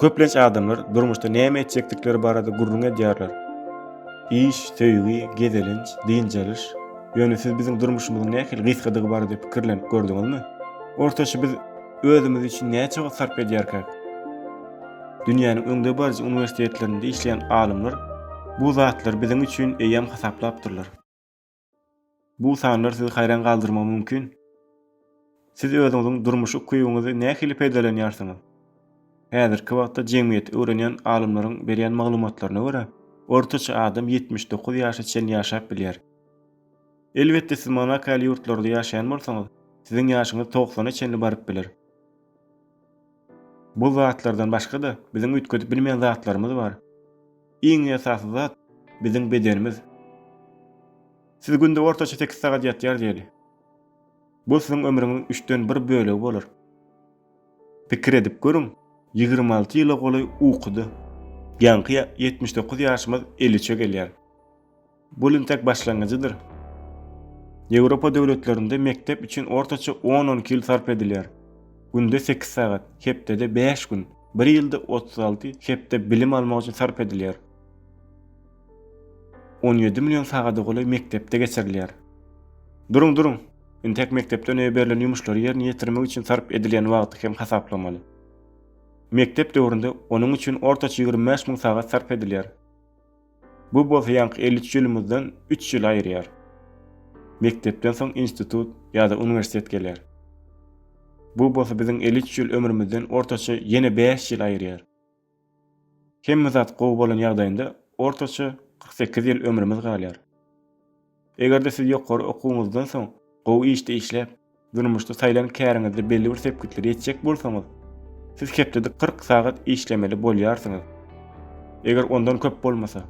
Köplenç adamlar durmuşda näme etjekdikleri barada gürrüň edýärler. Iş, söýgi, gezelenç, dynç alyş. Ýöne siz biziň durmuşymyzyň nähili gysgadygy barada pikirlenip gördüňizmi? Ortaça biz özümiz üçin näçe wagt sarp edýärkäk? Dünýäniň öňdebaryjy uniwersitetlerinde işleýän alymlar bu zatlary biziň üçin eýýäm hasaplapdyrlar. Bu sanlar sizi haýran galdyrmagy mümkin. Siz özüňiziň durmuş ukybyňyzy nähili peýdalanýarsyňyz? Häzirki wagtda jemgyýeti öwrenýän alymlaryň berýän maglumatlaryna görä, ortaça adam ýetmiş dokuz ýaşa çenli ýaşap bilýär. Elbetde, siz Monako ýaly ýurtlarda ýaşaýan bolsaňyz, siziň ýaşyňyz togsana çenli baryp biler. Bu zatlardan başga-da, biziň üýtgedip bilmeýän zatlarymyz bar. Iň esasy zat, biziň bedenimiz. Siz günde ortaça sekiz sagat ýatýar diýeli. Bu siziň ömrüňiziň üçden bir bölegi bolar. Pikir edip görüň, ýigrimi alty ýyla golaý ukuda. Ýaňky ýetmiş dokuz ýaşymyz eliçe gelýär. Bu lintek başlangyjydyr. Ýewropa döwletlerinde mekdep üçin ortaça on-on iki ýyl sarp edilýär. Günde sekiz sagat, hepdede bäş gün, bir ýylda otuz alty hepde bilim almak üçin sarp edilýär. On ýedi million sagada golaý mekdepde geçirilýär. Duruň, duruň! Intek mekdepden öýe berlen ýumuşlary ýerine ýetirmek üçin sarp edilýän wagty hem hasaplamaly. Mekdep döwründe onuň üçin ortaça ýigrimi bäş müň sagat sarp edilýär. Bu bolsa ýaňky elli üç ýylymyzdan üç ýyl aýyrýar. Mekdepden soň institut ýa-da uniwersitet gelýär. Bu bolsa biziň elli üç ýyl ömrümizden ortaça ýene bäş ýyl aýyrýar. Hemme zat gowy bolan ýagdaýynda ortaça kyrk sekiz ýyl ömrümiz galýar. Eger-de siz ýokary okuwyňyzdan soň gowy işde işläp, durmuşda saýlan käriňizde belli bir sepgitlere ýetjek bolsaňyz, siz hepdede kyrk sagat işlemeli bolýarsyňyz. Eger ondan köp bolmasa.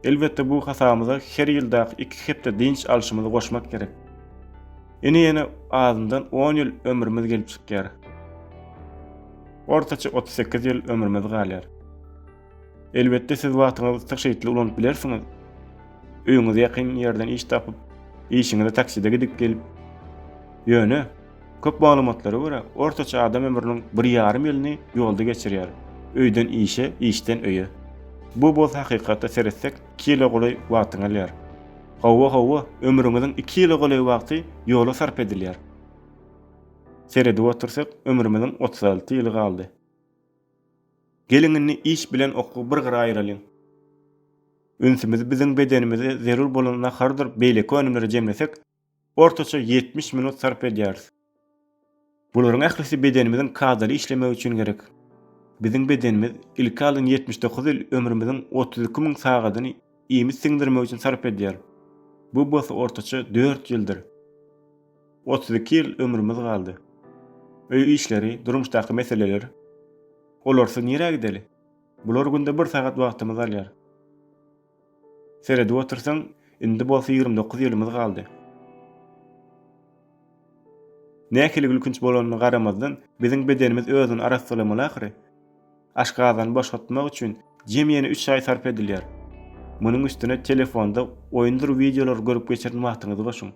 Elbetde bu hasabymyza her ýyldaky iki hepde dynç alşymyzy goşmak gerek. Ine ýene azyndan on ýyl ömrümiz gelip çykýar. Ortaça otuz sekiz ýyl ömrümiz galýar. Elbetde siz wagtyňyzy tygşytly ulanyp bilersiňiz. Öýüňize ýakyn ýerden iş tapyp, işiňize takside gidip gelip. Ýöne, köp maglumatlara görä, ortaça adam ömrüniň bir ýarym ýylyny ýolda geçirýär, öýden işe, işden öýe. Bu bolsa hakykata seretsek iki ýyla golaý wagtyňy alýar. Hawa, hawa, ömrüňiziň iki ýyla golaý wagty ýola sarp edilýär. Seredip otursak, ömrümiziň otuz alty ýyly galdy. Geliň indi iş bilen okuwy bir gyra aýyralyň. Ünsümizi biziň bedenimize zerur bolan nahardyr beýleki önümlere jemlesek, ortaça ýetmiş minut sarp edýäris. Bularyň ählisi bedenimiziň kadaly işlemegi üçin gerek. Biziň bedenimiz ilki alyn ýetmiş dokuz ýyl ömrümiziň otuz iki müň sagadyny iýmit siňdirmek üçin sarp edýär. Bu bolsa ortaça dört ýyldyr. Otuz iki ýyl ömrümiz galdy. Öý işleri, durmuşdaky meseleler. Olarsyz nirä gideli? Bular günde bir sagat wagtymyzy alýar. Seredip otursaň, indi bolsa ýigrimi dokuz ýylymyz galdy. Nähili gülkünç bolanyna garamazdan, biziň bedenimiz özüni arassalamaly ahyry. Aşgazany boşatmak üçin jemi-ýeni üç aý sarp edilýär. Munuň üstüne telefonda oýundyr wideolary görüp geçiren wagtyňyzy goşuň.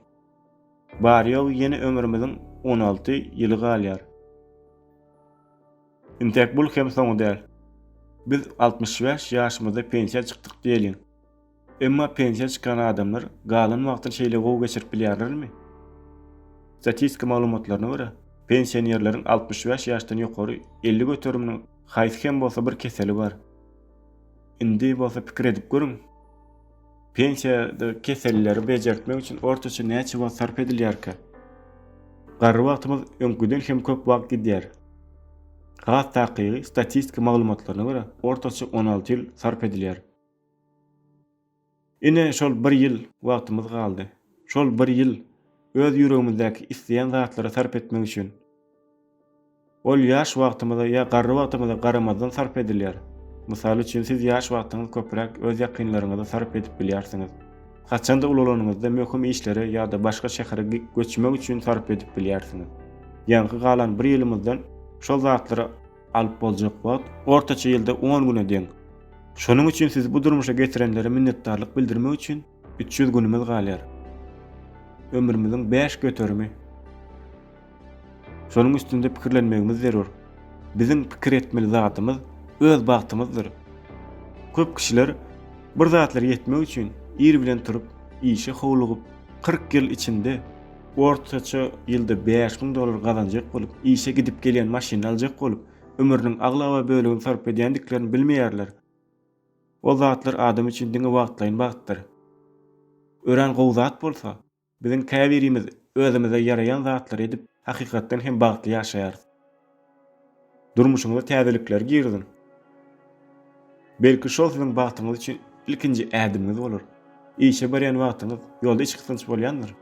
Bary-ýogy ýene ömrümiziň on alty ýyly galýar. Intäk bul hem soňy däl. Biz altmyş bäş ýaşymyzda pensiýa çykdyk diýeliň. Emma pensiýa çykan adamlar galan wagtyny şeýle gowy geçirip bilýärlermi? Statistika maglumatlaryna görä, pensionerleriň altmyş bäş ýaşdan ýokary elli göteriminiň haýsy hem bolsa bir keseli bar. Indi bolsa pikir edip görüň! Pensiýada keselleri bejertmek üçin ortaça näçe wagt sarp edilýärkä? Garry wagtymyz öňküden hem köp wagt gidýär. Has takygy statistika maglumatlaryna görä, ortaça on alty ýyl sarp edilýär. Ine, şol bir ýyl wagtymyz galdy. Şol bir ýyl öz ýüregimizdäki isleýän zatlara sarp etmek üçin, Ol ýaş wagtymyza ýa garry wagtymyza garamazdan sarp edilýär. Mysal üçin, siz ýaş wagtyňyz köpräk öz ýakynlaryňyza sarp edip bilýärsiňiz. Haçanda ulalanyňyzda möhüm işlere ýa-da başga şähere göçmek üçin sarp edip bilýärsiňiz. Ýaňky galan bir ýylymyzdan şol zatlary alyp boljak wagt ortaça ýylda on güne deň. Şonuň üçin siz bu durmuşa getirenlere minnetdarlyk bildirmek üçin Üç ýüz günümiz galýar. Ömrümiziň bäş göterimi. Şonuň üstünde pikirlenmegimiz zerur. Biziň pikir etmeli zadymyz öz bagtymyzdyr. Köp kişiler bir zatlara ýetmek üçin ir bilen turup, işe howlugyp, kyrk ýyl içinde ortaça ýylda bäş müň dollar gazanjak bolup, işe gidip-gelýän maşynyny aljak bolup, ömrüniň aglaba bölegini sarp edýändiklerini bilmeýärler. Ol zatlar adam üçin diňe wagtlaýyn bagtdyr. Örän gowy zat bolsa, biziň käbirimiz özümize ýaraýan zatlary edip, hakykatdan hem bagtly ýaşaýarys. Durmuşyňyza täzelikleri giriziň. Belki şol siziň bagtyňyz üçin ilkinji ädimiňiz bolar. Işe barýan wagtyňyz ýolda içgysgynç bolýandyr.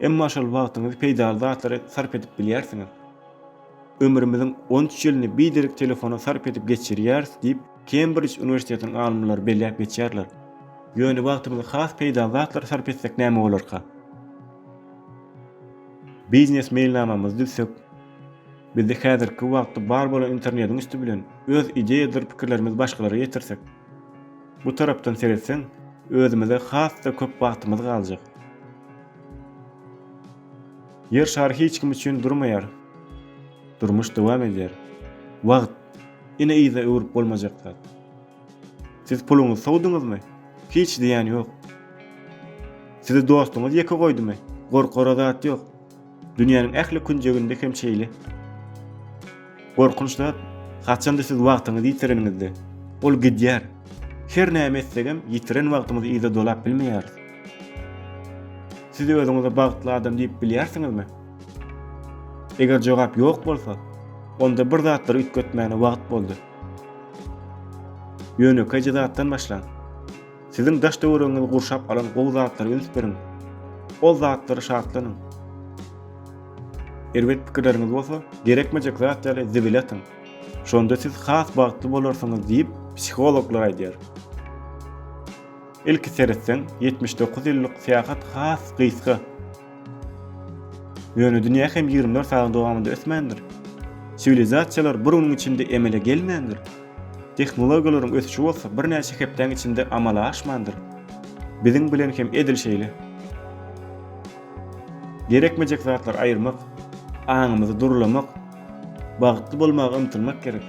Emma şol wagtyňyzy peýdaly zatlara sarp edip bilýärsiňiz. Ömrümiziň on üç ýylyny biderek telefona sarp edip geçirýäris diýip, Kembrij uniwersitetiniň alymlary belläp geçýärler. Ýöne wagtymyzy has peýdaly zatlara sarp etsek näme bolarka? Biznes meýilnamamyzy düzsek, bizde häzirki wagtda bar bolan internetiň üsti bilen öz ideýadyr pikirlerimizi başgalara ýetirsek, Bu tarapdan seretseň, özümize has-da köp wagtymyz galjak. Ýer şary hiç kim üçin durmaýar. Durmuş dowam edýär. Wagt, ine yza öwrüp bolmajak zat. Siz puluňyzy sowduňyzmy? Hiç zyýan ýok. Sizi dostuňyz ýeke goýdumy? Gorkara zat ýok. Dünýäniň ähli künjeginde hem şeýle. Gorkunç zat, haçanda siz wagtyňyzy ýitireniňizde, ol gidýär. Her näme etsegem, ýitiren wagtymyzy yza dolap bilmeýäris. Siz özüňize bagtly adam diýip bilýärsiňizmi? Eger jogap ýok bolsa, onda bir zatlary üýtgetmäne wagt boldy. Ýönekeýje zatdan başlaň. Siziň daş-töweregiňizi gurşap alan gowy zatlara üns beriň. Ol zatlara şatlanyň. Erbet pikirleriňiz bolsa, gerekmejek zat ýaly zibile atyň. Şonda siz has bagtly bolarsyňyz diýip, psihologlar aýdýar. Ilki seretseň, ýetmiş dokuz ýyllyk syýahat has gysga. Ýöne dünýä hem ýigrimi dört sagadyň dowamynda ösmändir. Siwilizasiýalar bir günüň içinde emele gelmändir. Tehnologiýalaryň ösüşi bolsa birnäçe hepdäň içinde amala aşmandyr. Biziň bilen hem edil şeýle. Gerekmejek zatlary aýyrmak, aňymyzy durlamak, bagtly bolmaga ymtylmak gerek.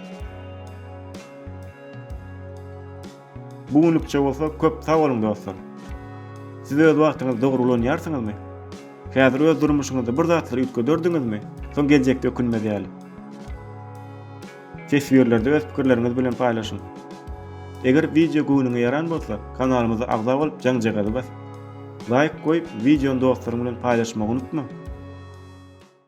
Bu günlükçe bolsa köp sag boluň dostlar. Siz öz wagtyňyzy dogry ulanýarsyňyzmy? Häzir öz durmuşyňyzda bir zatlary üýtgederdiňizmi? Soň geljekde ökünmez ýaly. Teswirlerde öz pikirleriňiz bilen paýlaşyň. Eger wideo göwnüňe ýaran bolsa, kanalymyza agza bolup jaňjagazy bas. Laýk goýup, wideony dostlaryň bilen paýlaşmagy unutma.